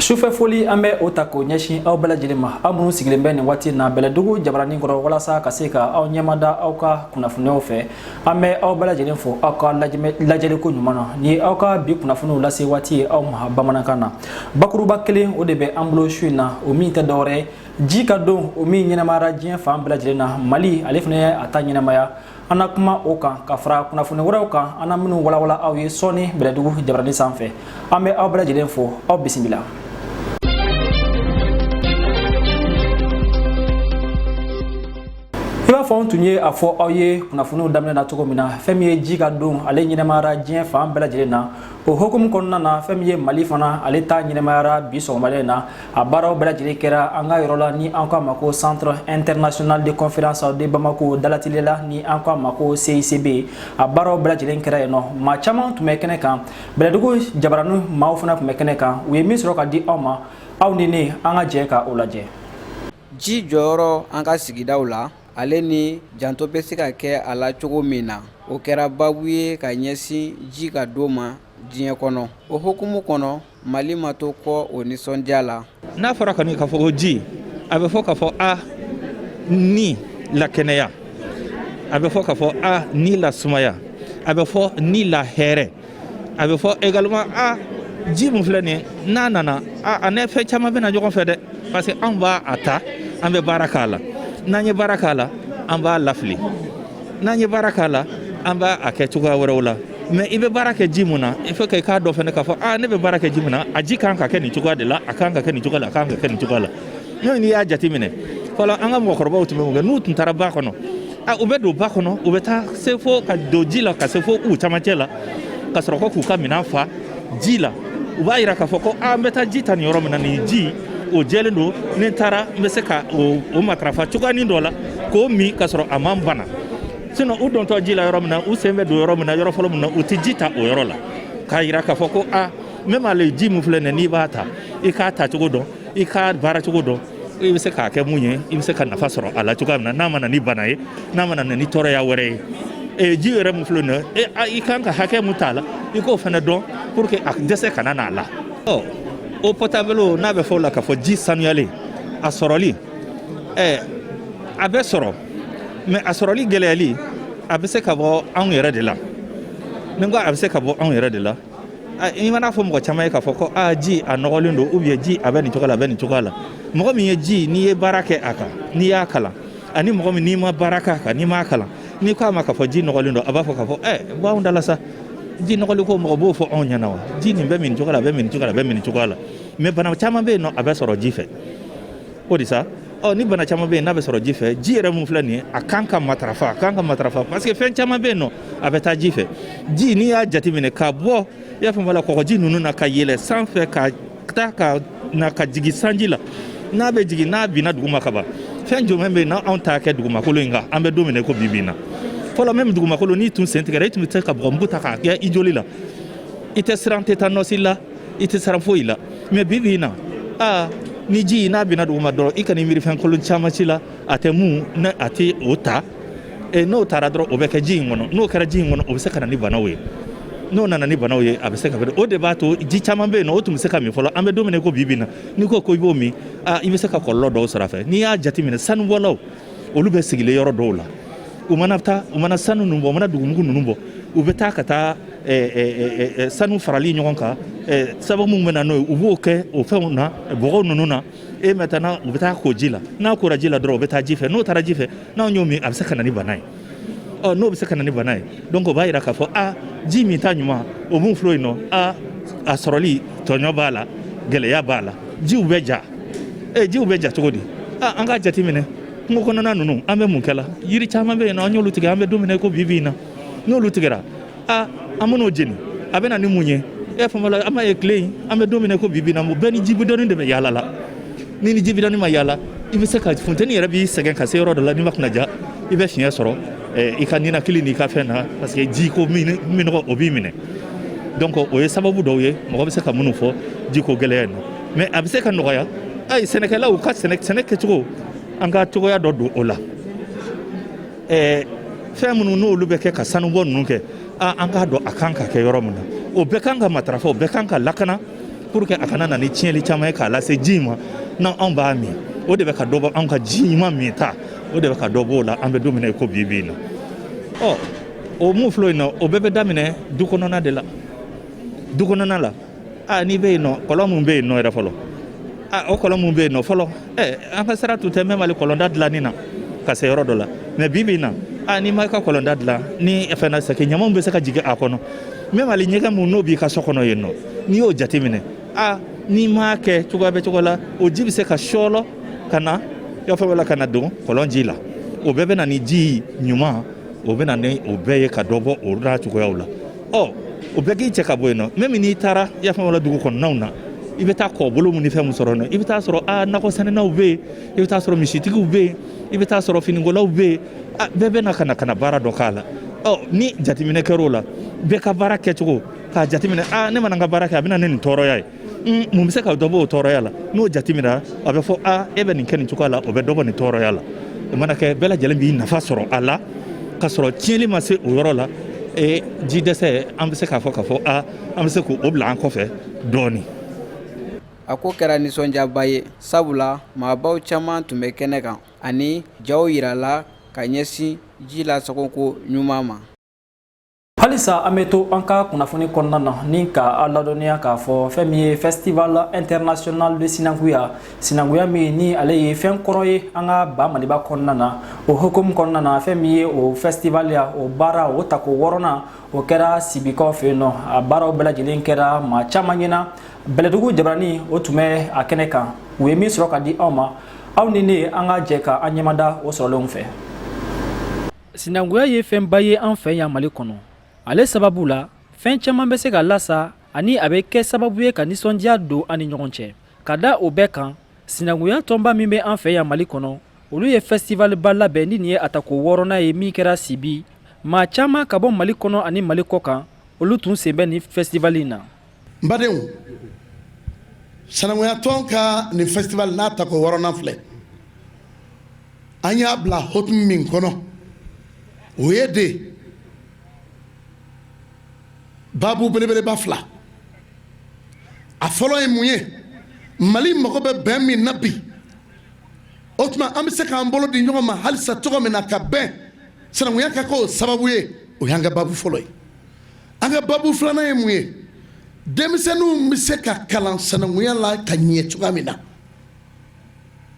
sufɛ foli an bɛ o ta k'o ɲɛsin aw bɛɛ lajɛlen ma aw minnu sigilen bɛ nin waati na bɛlɛdugu jabaranin kɔrɔ walasa ka se ka aw ɲɛmada aw ka kunnafoniyaw fɛ an bɛ aw bɛɛ lajɛlen fo aw ka lajɛliko ɲuman na nin ye aw ka bi kunnafoniw lase waati ye aw ma bamanankan na bakuruba kelen o de bɛ an bolo su in na o min tɛ dɔwɛrɛ ye ji ka don o min ɲɛnamayara diɲɛ fan bɛɛ lajɛlen na mali ale fana ye a ta ɲɛnamaya an na kuma o kan ka fara kunnafoni wɛrɛw kan an na minnu walawala aw ye sɔɔni bɛlɛdugu jabaranin sanfɛ an bɛ aw bɛɛ lajɛlen fo aw bisimila i b'a fɔ an tun ye a fɔ aw ye kunnafoniw daminɛ na cogo min na fɛn min ye ji ka don ale ɲɛnamayara diɲɛ fan bɛɛ lajɛlen na o hukumu kɔnɔna na fɛn min ye mali fana ale ta ɲɛnamayara bi sɔgɔmada in na a baaraw bɛɛ lajɛlen kɛra an ka yɔrɔ la ni an k'a ma ko centre international de conférence de bamako dalatile la ni an k'a ma ko cicb a baaraw bɛɛ lajɛlen kɛra yen nɔ maa caman tun bɛ kɛnɛ kan bɛlɛdugu jabaranin maaw fana tun bɛ kɛnɛ kan u ye min sɔrɔ ka di aw ma aw ni ne an ka jɛ ka o lajɛ ji jɔyɔrɔ an ka sigidaw la ale ni janto bɛ se ka kɛ a la cogo min na o kɛra babu ye ka ɲɛsin ji ka don ma diɲɛ kɔnɔ o hukumu kɔnɔ mali ma to kɔ o nisɔndiya la n'a fɔra kɔni k'a fɔ ko ji a bɛ fɔ k'a fɔ a ni lakɛnɛya a bɛ fɔ k'a fɔ a ni lasumaya a bɛ fɔ ni lahɛrɛ a bɛ fɔ également a ji mun filɛ nin n'a nana a a ni fɛn caman bɛ na ɲɔgɔn fɛ dɛ parce que an b'a a ta an bɛ baara k'a la n'an ye baara k'a la an b'a lafili n'an ye baara k'a la an b'a a kɛ cogoya wɛrɛw la mais i bɛ baara kɛ ji mun na il faut que i k'a dɔn fana k'a fɔ aa ne bɛ baara kɛ ji mun na a ji kan ka kɛ nin cogoya de la a kan ka kɛ nin cogoya la a kan ka kɛ nin cogoya la n'o n'i y'a jateminɛ fɔlɔ an ka mɔgɔkɔrɔbaw tun bɛ mun kɛ n'u tun taara ba kɔnɔ a u bɛ don ba kɔnɔ u bɛ taa se fo ka don ji la ka se fo u camancɛ la ka sɔrɔ ko k'u ka minɛn fa ji la u b'a yira k'a fɔ ko a n bɛ taa ji ta nin yɔrɔ min na nin ji o jɛlen don ni n taara n bɛ se ka o matarafa cogoyanin dɔ la k'o min ka sɔrɔ a ma n bana sinon u dontɔ ji la yɔrɔ min na u sen bɛ don yɔrɔ min na yɔrɔ fɔlɔ min na u tɛ ji ta o yɔrɔ la k'a yira k'a fɔ ko a même ale ji min filɛ nin ye n'i b'a ta i k'a tacogo dɔn i k'a baaracogo dɔn i bɛ se k'a kɛ mun ye i bɛ se ka nafa sɔrɔ a la cogoya min na n'a ma na ni bana ye n'a ma na ni tɔɔrɔya wɛrɛ ye e ji yɛrɛ min filɛ nin ye e i kan ka hakɛ mun t'a la i k'o fana dɔn pour que a dɛsɛ kana n'a la ɔ eau potable o n'a bɛ fɔ o la k'a fɔ ji sanuyalen a sɔrɔli ɛ a bɛ sɔrɔ mais a sɔrɔli gɛlɛyali a bɛ se ka bɔ anw yɛrɛ de la ni ko a bɛ se ka bɔ anw yɛrɛ de la i man'a fɔ mɔgɔ caman ye k'a fɔ ko aa ji a nɔgɔlen don ou bien ji a bɛ nin cogo la a bɛ nin cogoya la mɔgɔ min ye ji n'i ye baara kɛ a kan n'i y'a kalan ani mɔgɔ min n'i ma baara k'a kan n'i m'a kalan n'i ko a ma k'a fɔ ji nɔgɔlen don a b'a fɔ k'a fɔ ɛ bɔ anw da la sa ji nɔgɔli ko mɔgɔ b'o fɔ anw ɲɛna wa ji nin bɛ min cogo la a bɛ min cogo la a bɛ min cogoya la mais bana caman bɛ yen nɔ a bɛ sɔrɔ ji fɛ O de sa ɔ ni bana caman bɛ yen n'a bɛ sɔrɔ ji fɛ ji yɛrɛ min filɛ nin ye a kan ka matarafa a kan ka matarafa parce que fɛn caman bɛ yen nɔ a bɛ taa ji fɛ ji n'i y'a jateminɛ ka bɔ i y'a faamuya la kɔgɔji ninnu na ka yɛlɛ sanfɛ ka taa ka na ka jigin sanji la n'a bɛ jigin n'a binna duguma ka ban fɛn jumɛn bɛ yen n'anw t'a kɛ dugumakolo in kan an bɛ don min na ko bi bi in na fɔlɔ même dugumakolo n'i tun sen tigɛra i tun bɛ se ka bɔgɔmugu ta k'a kɛ i joli la i tɛ siran tetanɔsi la i tɛ siran foyi la mais bi bi in na aa ni ji n'a binna duguma dɔrɔn i kana i miiri fɛn kolon caman ci la a tɛ mun ne a tɛ o ta e n'o taara dɔrɔn o bɛ kɛ ji in kɔnɔ n'o kɛra ji in kɔnɔ o bɛ se ka na ni banaw ye n'o nana ni banaw ye a bɛ se ka o de b'a to ji caman bɛ yen nɔ o tun bɛ se ka min fɔlɔ an bɛ don min na i ko bi bi in na n'i ko ko i b'o min i bɛ se ka kɔlɔlɔ dɔw sɔrɔ a fɛ n'i y'a jateminɛ sanubɔlaw olu bɛ sigilen yɔrɔ dɔw la u mana taa u mana sanu ninnu bɔ u mana dugumugu ninnu bɔ u bɛ taa ka taa sanu farali ɲɔgɔn kan sababu min bɛ na n'o ye u b'o kɛ o fɛnw na bɔgɔ ninnu na e maintenant u bɛ taa ko ji la n'a kora ji la dɔrɔn o bɛ taa ji fɛ n'o taara ji fɛ n'anw y'o min a bɛ se ka na ni bana ye ɔ n'o bɛ se ka na ni bana ye donc o b'a yira k'a fɔ a ji min ta ɲuman o mun filɛ yen nɔ a a sɔrɔli tɔɲɔ b'a la gɛlɛya b'a la jiw bɛ ja ee jiw bɛ ja cogo di a an k'a jateminɛ kungo kɔnɔna ninnu an bɛ mun kɛla yiri caman bɛ yen nɔ an y'olu tigɛ an bɛ don min na i ko bi bi in na n'olu tigɛra aa an man'o jeni a bɛ na ni mun ye e faamuya la an b'a ye tile in an bɛ don min na ko bi bi na bɛɛ ni jibidɔni de bɛ yaala la ni ni jibidɔni ma yaala i bɛ se ka funteni yɛrɛ b'i sɛgɛn ka se yɔrɔ dɔ la n'i ma kunna ja i bɛ fiɲɛ sɔrɔ eh, i ka ninakili n'i ka fɛn na parce que ji ko minnɔgɔ o b'i minɛ donc o ye sababu dɔw ye mɔgɔ bɛ se ka minnu fɔ ji ko gɛlɛya in na mais a bɛ se ka nɔgɔya ayi sɛnɛkɛlaw ka sɛnɛ kɛcogo an ka cogoya dɔ don o la ɛɛ fɛn minnu n'olu bɛ kɛ ka sanubɔ ninnu kɛ an k'a dɔn a kan ka kɛ yɔrɔ min na o bɛɛ kan ka matarafa o bɛɛ kan ka lakana pour que a kana na ni tiɲɛli caman ye k'a lase ji ma n'an anw b'a min o de bɛ ka dɔ bɔ anw ka ji ɲuman min ta o de bɛ ka dɔ b'o la an bɛ don min na i ko bi bi in na ɔ o mun filɛ yen nɔ o bɛɛ bɛ daminɛ du kɔnɔna de la du kɔnɔna la aa n'i bɛ yen nɔ kɔlɔn min bɛ yen nɔ yɛrɛ fɔlɔ aa o kɔlɔn min bɛ yen nɔ fɔlɔ ɛ an ka sira tun tɛ même hali kɔlɔnda dilanni na ka se yɔrɔ dɔ la mais bi bi in na aa n'i ma i ka kɔlɔnda dilan ni fɛn na c'est que ɲamanw bɛ se ka jigin a kɔnɔ même hali ɲɛgɛn mun n'o b'i ka so kɔnɔ yen nɔ n'i y'o jateminɛ aa n'i m'a kɛ cogoya bɛ cogo la o ji bɛ se ka sɔɔlɔ ka na y'a fɔ la ka na don kɔlɔn ji la o bɛɛ bɛ na ni ji ɲuman o bɛ na ni o bɛɛ ye ka dɔ bɔ o la cogoyaw la ɔ o bɛɛ k'i cɛ ka bɔ yen nɔ même n'i taara i y'a faamuya dugu kɔnɔnaw na i bɛ taa kɔbolo mun ni fɛn mun sɔrɔ yen nɔ i bɛ taa sɔrɔ a nakɔ sɛnɛnaw bɛ yen i bɛ taa sɔrɔ misitigiw bɛ yen i bɛ taa sɔrɔ finikolaw bɛ yen a bɛɛ bɛ na ka na ka na baara dɔ k'a la ɔ ni jateminɛ kɛra o la bɛɛ ka baara kɛcogo k'a jateminɛ a ne mana n ka baara kɛ a bɛ na ne nin tɔɔrɔya ye mun bɛ se ka dɔbɔ o tɔɔrɔya la n'o jateminɛra a bɛ fɔ a e bɛ nin kɛ nin cogoya la o bɛ dɔbɔ nin tɔɔrɔya la o mana kɛ bɛɛ lajɛlen b'i nafa sɔrɔ a la ka sɔrɔ tiɲɛli ma se o yɔrɔ la e ji dɛsɛ an bɛ se k'a fɔ k'a fɔ a an bɛ se k'o bila an kɔfɛ dɔɔni a ko kɛra nisɔndiyaba ye sabula maabaw caman tun bɛ kɛnɛ kan ani jaw yirala ka ɲɛsin ji lasagoko ɲuman ma halisa an bɛ to an ka kunnafoni kɔnɔna na ni ka aw ladɔnniya k'a fɔ fɛn min ye festival international de sinankuya sinankuya min ni ale ye fɛn kɔrɔ ye an ka ba maliba kɔnɔna na o hukumu kɔnɔna na fɛn min ye o festival ya o baara o tako wɔɔrɔnan o kɛra sibikaw fɛ yen nɔ a baaraw bɛɛ lajɛlen kɛra maa caman ɲɛna bɛlɛdugu jabarani o tun bɛ a kɛnɛ kan u ye min sɔrɔ ka di aw ma aw ni ne an ka jɛ ka an ɲɛmada o sɔrɔlenw fɛ sinankuya ye fɛnba ye an fɛ yan mali kɔnɔ ale sababu la fɛn caman bɛ se ka lasa ani a bɛ kɛ sababu ye ka nisɔndiya don an ni ɲɔgɔn cɛ ka da o bɛɛ kan sinankuya tɔnba min bɛ an fɛ yan mali kɔnɔ olu ye fɛsitiwaliba labɛn ni nin ye a tako wɔɔrɔnan ye min kɛra sibi maa caman ka bɔ mali kɔnɔ ani mali kɔ kan olu tun sen bɛ nin fɛsitiwali in na n badenw sinankuya tɔn ka nin fɛsitiwali n'a tako wɔɔrɔnan filɛ an y'a bila hukumu min kɔnɔ o ye de babu belebeleba fila a fɔlɔ ye mun ye mali mago bɛ bɛn min na bi o tuma an bɛ se k'an bolo di ɲɔgɔn ma halisa cogo min na ka bɛn sanankunya ka k'o sababu ye o y'an ka babu fɔlɔ ye an ka babu filanan ye mun ye denmisɛnninw bɛ se ka kalan sanankunya la ka ɲɛ cogoya min na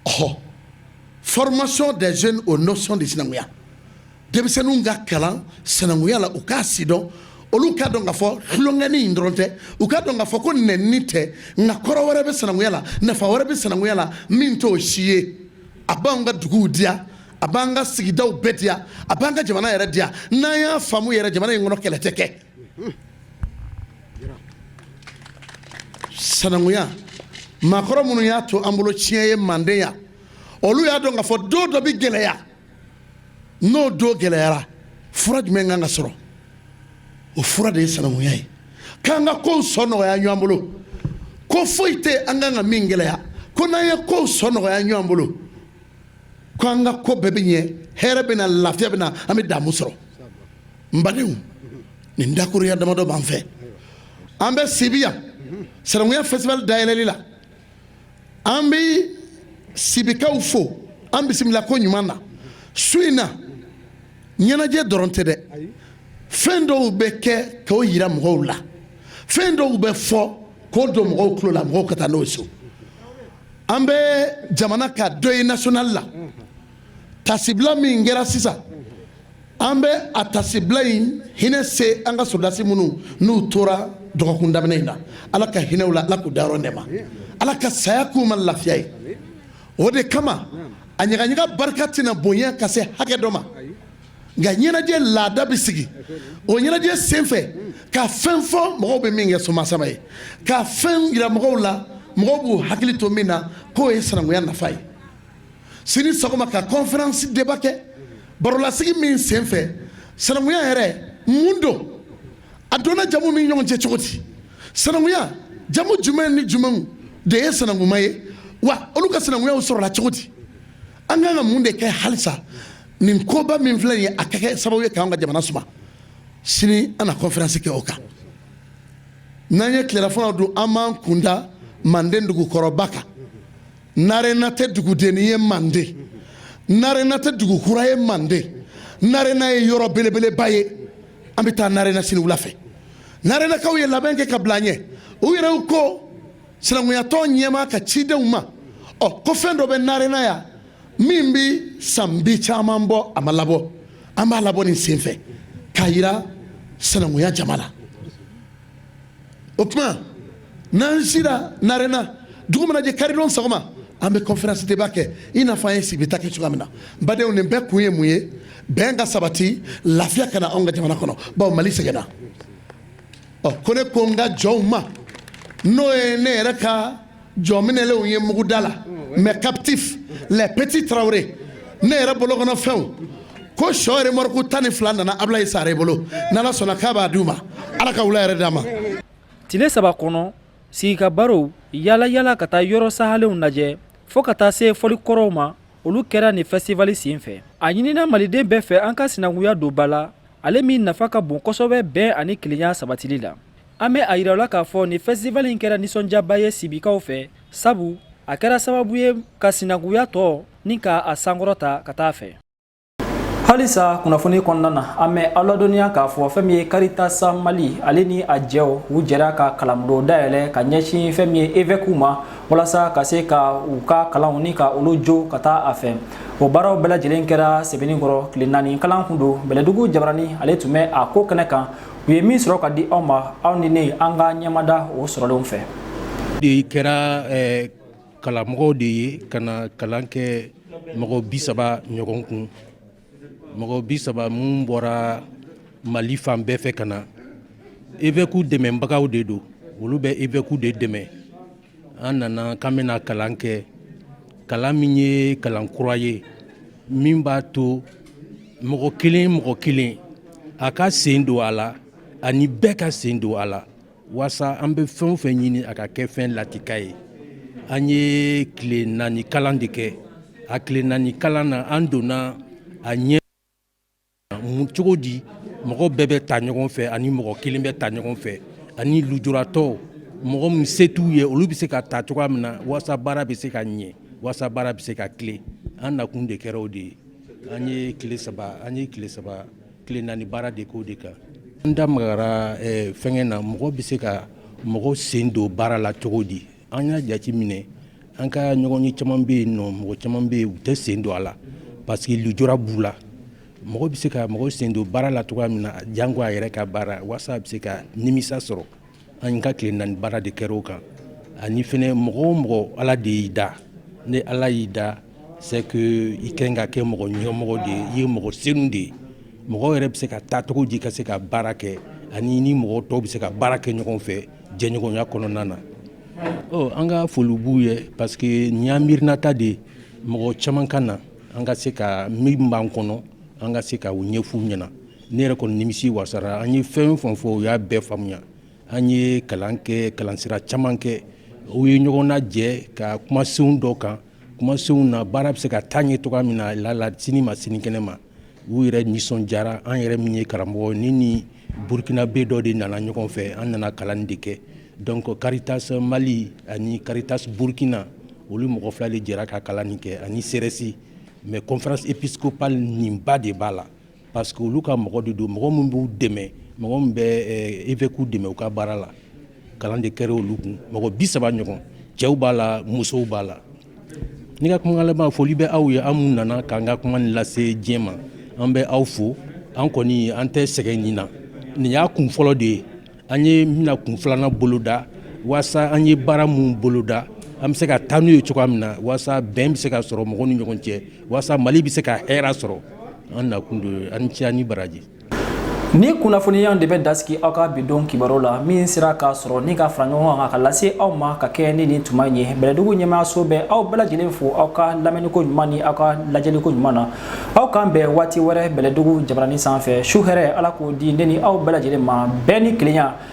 ɔ formation des jeunes aux notions de sinankunya denmisɛnninw ka kalan sinankunya la u k'a sidɔn olu k'a dɔn k'a fɔ tulonkɛni in dɔrɔn tɛ u k'a dɔn k'a fɔ ko nɛnini tɛ nka kɔrɔ wɛrɛ bɛ sinankunya la nafa wɛrɛ bɛ sinankunya la min t'o si ye a b'an ka duguw diya a b'an ka sigidaw bɛɛ diya a b'an ka jamana yɛrɛ diya n'an y'a faamu yɛrɛ jamana in kɔnɔ kɛlɛ tɛ kɛ sanankuya maakɔrɔ minnu y'a to an bolo tiɲɛ ye manden yan olu y'a dɔn k'a fɔ don dɔ bɛ gɛlɛya n'o don gɛlɛyara fura jumɛn kan ka sɔrɔ o fura de ye sanankuya ye k'an ka kow sɔnɔgɔya ɲɔgɔn bolo ko foyi tɛ an kan ka min gɛlɛya ko n'an ye kow sɔnɔgɔya ɲɔgɔn bolo ko an ka ko bɛɛ bɛ ɲɛ hɛrɛ bɛ na lafiya bɛ na an bɛ damu sɔrɔ n badenw nin dakurunya damadɔ b'an fɛ an bɛ sibi yan sinankunya fɛstivali dayɛlɛli la an bɛ sibikaw fo an bisimila ko ɲuman na su in na ɲɛnajɛ dɔrɔn tɛ dɛ fɛn dɔw bɛ kɛ k'o yira mɔgɔw la fɛn dɔw bɛ fɔ k'o don mɔgɔw tulo la mɔgɔw ka taa n'o ye so an bɛ jamana ka deuil national la tasibila min kɛra sisan an bɛ a tasibila in hinɛ se an ka sɔrɔdasi minnu niw tora dɔgɔkun daminɛ in na ala ka hinɛ u la ala k'u dayɔrɔ nɛɛma ala ka saya k'u ma lafiya ye o de kama a ɲagaɲaga barika tɛna bonya ka se hakɛ dɔ ma nka ɲɛnajɛ laada bɛ sigi o ɲɛnajɛ senfɛ ka fɛn fɔ mɔgɔw bɛ min kɛ somasama ye ka fɛn yira mɔgɔw la mɔgɔw b'u hakili to min na k'o ye sinankunya nafa ye sini sɔgɔma ka conférence débat kɛ barolasigi min senfɛ sananguya yɛrɛ mun don a donna jamu ni ɲɔgɔn cɛ cogo di sananguya jamu jumɛn ni jumɛnw de ye sananguma ye wa olu ka sananguyaw sɔrɔla cogo di an kan ka mun de kɛ halisa nin koba min filɛ ye a ka kɛ sababu ye k'an ka jamana suma sini an na conférence kɛ o kan n'an ye tilelafana dun an b'an kunda manden dugukɔrɔba kan narena tɛ dugudenni ye manden narena tɛ dugu kura ye manden narena ye yɔrɔ belebeleba ye an bɛ taa narena sini wula fɛ narenakaw ye labɛn kɛ ka bila an ɲɛ u yɛrɛw ko sinankunyatɔn ɲɛmaa ka cidenw ma ɔ ko fɛn dɔ bɛ narena yan min bɛ san bi caman bɔ a ma labɔ an b'a labɔ nin senfɛ k'a yira sinankunya jama la o tuma n'an sira narena dugu mana jɛ karidon sɔgɔma an bɛ conférence débat kɛ i n'a fɔ an ye sibi ta kɛ cogoya min na badenw nin bɛɛ kun ye mun ye bɛn ka sabati lafiya ka na anw ka jamana kɔnɔ bawo mali sɛgɛnna ɔ ko ne ko n ka jɔnw ma n'o ye ne yɛrɛ ka jɔnminɛlenw ye muguda la mes captifs les petits tarawele ne yɛrɛ bolo kɔnɔ fɛnw ko sɔ remɔriku tan ni fila nana ablayi sare bolo n'ala sɔnna k'a b'a d'u ma ala ka wula hɛrɛ d'an ma tile saba kɔnɔ sigi ka barow yala yala ka taa yɔrɔ sahalenw lajɛ fɔɔ ka taa se fɔli kɔrɔw ma olu kɛra nin fɛstivali sen fɛ a ɲinina maliden bɛɛ fɛ an ka sinankunya don ba la ale min nafa ka bon kosɛbɛ bɛn ani kelenya sabatili la An bɛ a jirala k'a fɔ nin festival in kɛra nisɔndiyaba ye sibikaw fɛ sabu a kɛra sababu ye ka sinankuya tɔ ni ka a sankɔrɔta ka taa fɛ halisa kunnafoni kɔnɔna na an bɛ aw ladɔnniya k'a fɔ fɛn min ye karitas mali ale ni a jɛw u jɛra ka kalanbulon dayɛlɛ ka ɲɛsin fɛn min ye évêques ma walasa ka se ka u ka kalanw ni ka olu jo ka taa a fɛ o baaraw bɛɛ lajɛlen kɛra sebenikɔrɔ tile naani kalan kun don bɛlɛdugu jabarani ale tun bɛ a ko kɛnɛ kan u ye min sɔrɔ ka di aw ma aw ni ne an ka ɲɛmada o sɔrɔlenw fɛ de kɛra karamɔgɔ de ye ka na kalan kɛ mɔgɔ bi saba ɲɔgɔn kun mɔgɔ bi saba minnu bɔra mali fan bɛɛ fɛ ka na évêques dɛmɛbagaw de don olu bɛ évêques de dɛmɛ an nana k'an bɛna kalan kɛ kalan min ye kalan kura ye min b'a to mɔgɔ kelen mɔgɔ kelen a ka sen don a la ani bɛɛ ka sen don a la waasa an bɛ fɛn o fɛn ɲini a ka kɛ fɛn lakika ye an ye tile naani kalan de kɛ a tile naani kalan na an donna a ɲɛ cogo di mɔgɔ bɛɛ bɛ taa ɲɔgɔn fɛ ani mɔgɔ kelen bɛ taa ɲɔgɔn fɛ ani lujuratɔ mɔgɔ min se t'u ye olu bɛ se ka ta cogoya min na waasa baara bɛ se ka ɲɛ waasa baara bɛ se ka tilen an nakun de kɛra o de ye an ye tile saba an ye tile saba tile naani baara de k'o de kan an da magara fɛnkɛ na mɔgɔ bɛ se ka mɔgɔ sen don baara la cogo di An y'a jate minɛ an ka ɲɔgɔn ye caman bɛ yen nɔ mɔgɔ caman bɛ yen u tɛ sen don a la parce que lujura b'u la mɔgɔ bɛ se ka mɔgɔ sen don baara la cogoya min na janko a yɛrɛ ka baara waasa a bɛ se ka nimisa sɔrɔ an ka tile naani baara de kɛra o kan ani fana mɔgɔ o mɔgɔ ala de y'i da ni ala y'i da c'est que i ka kɛ mɔgɔ ɲɛmɔgɔ de ye i ye mɔgɔ sen de ye mɔgɔ yɛrɛ bɛ se ka taa cogo di ka se ka baara kɛ ani ni mɔgɔ tɔw bɛ se ka baara kɛ ɲɔgɔn fɛ jɛɲɔgɔnya kɔnɔna na an ka foli b'u ye parce que nin y'an miirinata de ye mɔgɔ caman ka na an ka se ka min b'an kɔnɔ an ka se ka o ɲɛf'u ɲɛna ne yɛrɛ kɔni nimisi wasara an ye fɛn o fɛn fɔ u y'a bɛɛ faamuya an ye kalan kɛ kalansira caman kɛ u ye ɲɔgɔn najɛ ka kumasenw dɔ kan kumasenw na baara bɛ se ka taa ɲɛ cogo min na lala sini ma sinikɛnɛ ma u yɛrɛ nisɔndiyara an yɛrɛ min ye karamɔgɔ ni ni burukinabɛ dɔ de nana ɲɔgɔn fɛ an nana kalan de kɛ donc karitas mali ani karitas burukina olu mɔgɔ fila de jɛra ka kalan nin kɛ ani CRS mais conférence épiscopale nin ba de b'a la parce que olu ka mɔgɔ de don mɔgɔ min b'u dɛmɛ mɔgɔ min bɛ évêques dɛmɛ u ka baara la kalan de kɛra olu kun mɔgɔ bi saba ɲɔgɔn cɛw b'a la musow b'a la ne ka kuma laban foli bɛ aw ye aw mun nana k'an ka kuma lase diɲɛ ma an bɛ aw fo an kɔni an tɛ sɛgɛn nin na nin y'a kun fɔlɔ de ye an ye bɛna kun filanan boloda waasa an ye baara minnu boloda an bɛ se ka taa n'u ye cogoya min na waasa bɛn bɛ se ka sɔrɔ mɔgɔw ni ɲɔgɔn cɛ waasa mali bɛ se ka hɛɛra sɔrɔ an nakun don aw ni ce aw ni baraji Nin kunnafoniya de bɛ dan sigi aw ka bi don kibaru la min sera k'a sɔrɔ ni ka fara ɲɔgɔn kan ka lase aw ma ka kɛ ni nin tuma ye bɛlɛdugu ɲɛmaayaso bɛ aw bɛɛ lajɛlen fo aw ka lamɛnniko ɲuman ni aw ka lajɛliko ɲuman na aw k'an bɛn waati wɛrɛ bɛlɛdugu jabaranin sanfɛ su hɛrɛ ala k'o di ne ni aw bɛɛ lajɛlen ma bɛn ni kelenya